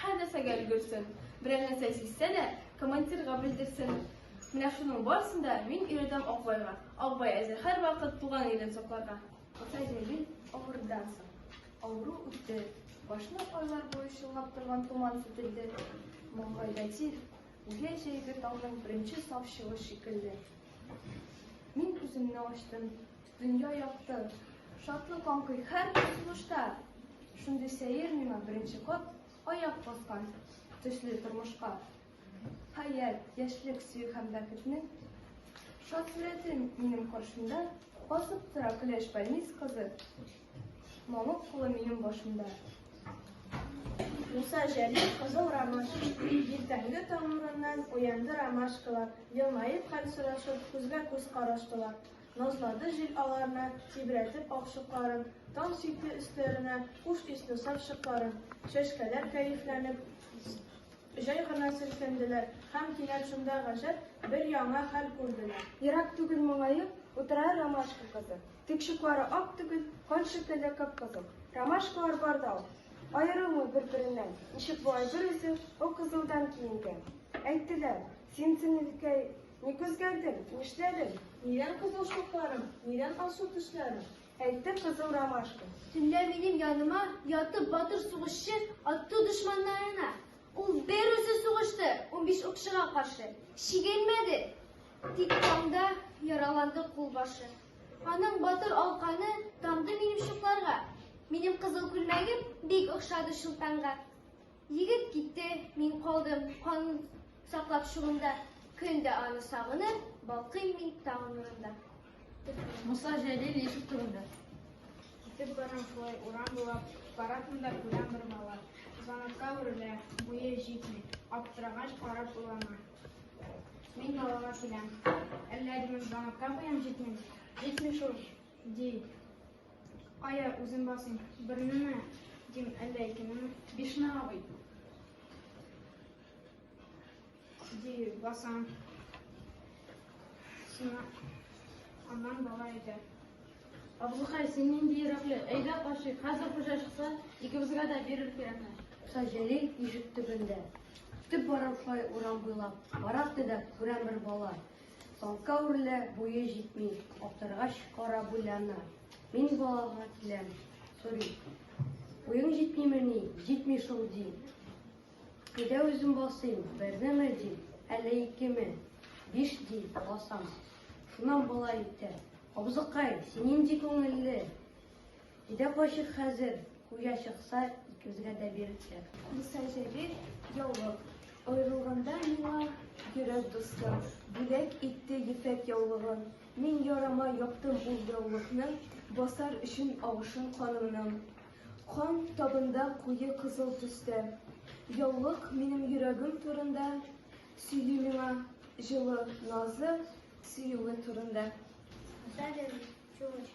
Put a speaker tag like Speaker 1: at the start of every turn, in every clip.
Speaker 1: Һәр нәрсәгә өлгерсен. Берәр нәрсә сизсә дә, командирга белдерсен. Менә шуның барысын да мин өйрәтәм Акбайга. Акбай әзер һәрвакыт туган илен сакларга. Ата җәйли авырдан соң. Авыру үтте. Башны айлар буе чолгап торган томан кителде. Маңгайда тир, үгә җәйге таңның беренче саф чыгыш шикелле. Мин күземне ачтым. Дөнья якты, шатлык аңкый һәр тормышта. Шундый сәер миңа беренче кат аяк баскан төсле тормышка. Хәят, яшьлек, сөю һәм бәхетнең шат сурәтен минем каршымда басып тора көләч больниц кызы. Мамык кулы минем башымда.
Speaker 2: Муса Җәлил кызыл ромаш, иртәнге таңнарыннан уянды ромашкалар, елмаеп хәл сорашып, күзгә күз караштылар. Назлады җил аларны, тибрәтеп ак чукларын, Таң сипте өсләренә хуш исле саф чыкларын. Чәчкәләр кәефләнеп, җай гына селкенделәр Һәм кинәт шунда гаҗәп бер яңа хәл күрделәр. Ерак түгел моңаеп,
Speaker 3: утыра ромашка кызы. Тик чуклары ак түгел, кан шикелле кып-кызыл. Ромашкалар бар да ул, аерылмый бер-береннән, Ничек болай бер үзе, о кызылдан киенгән? Әйттеләр, син төннекәй Ник үзгәрдең? Нишләдең? Нидән кызыл
Speaker 2: чукларың? Нидән алсу төсләрең? Әйтте кызыл
Speaker 3: ромашка. Төнлә минем
Speaker 1: яныма ятып батыр сугышчы атты дошманнарына. Ул бер үзе сугышты, унбиш укчыга каршы. Чигенмәде. Тик таңда яраланды кулбашы. Аның батыр алканы тамды минем чукларга. Минем кызыл күлмәгем бик охшады чулпанга. Егет китте, мин калдым, канын саклап шугымда. Көн дә аны сагынып, балкыйм мин таң нурында.
Speaker 4: Муса Җәлил ишек турында. Китеп
Speaker 5: барам шулай урам буйлап, барасын да күрәм бер бала. Занатка үрелә, буе җитми, аптырагач карап уйлана. Мин балага киләм. Әллә димем, занатка буям җитми, җитми шул, ди. Кая үзен басыйм? Бернеме? Дим, әллә икенеме? Бишме, абый? Ди, басам. Сина, аннан бала әйтә. Абзыкай,
Speaker 4: син нинди йөрәкле? Әйдә кашыйк, хәзер хуҗа чыкса, икебезгә дә бирер кирәкме? Саҗәли
Speaker 3: ишек төбендә. Төп барам шулай урам буйлап. Барак төдәп, күрәм бер бала. Талка үрле, буе җитми, аптыргач кара буйлана. Мин балага киләм, сорый. Буең җитмиме ни? Җитми шул ди. Өйдә үзем басыйм, бернеме ди, әллә икеме? Биш ди, басам. Шуннан болай итә. Абзыкай, син нинди күңелле? Идә кайчык хәзер, куя чыкса, икебезгә дә бирелсәк. Муса Җәлил,
Speaker 1: яулык. Аерылганда миңа йөрәк дустым, бүләк итте ефәк яулыгын. Мин ярама яптым ул яулыкны, басар өчен агышын канымның. Кан табында куе кызыл төстә. Яулык минем йөрәгем турында сөйли миңа җылы назы сөюе турында. Дәлел,
Speaker 6: чулыч,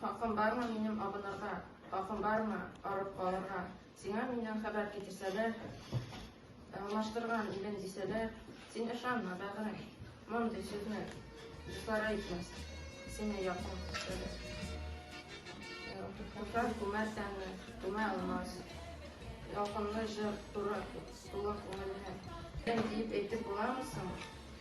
Speaker 7: Хакым бармы минем абынырга? Хакым бармы арып калырга? Сиңа миннән хәбәр китерсәләр, алмаштырган илен дисәләр, син ышанма, бәгърем, мондый сүзне дуслар әйтмәс, сине якын күрсәләр. Куркак күмәр тәнне, күмә алмас. Ялкынлы җыр туры, тулы күңелне. Дип әйтеп буламы соң?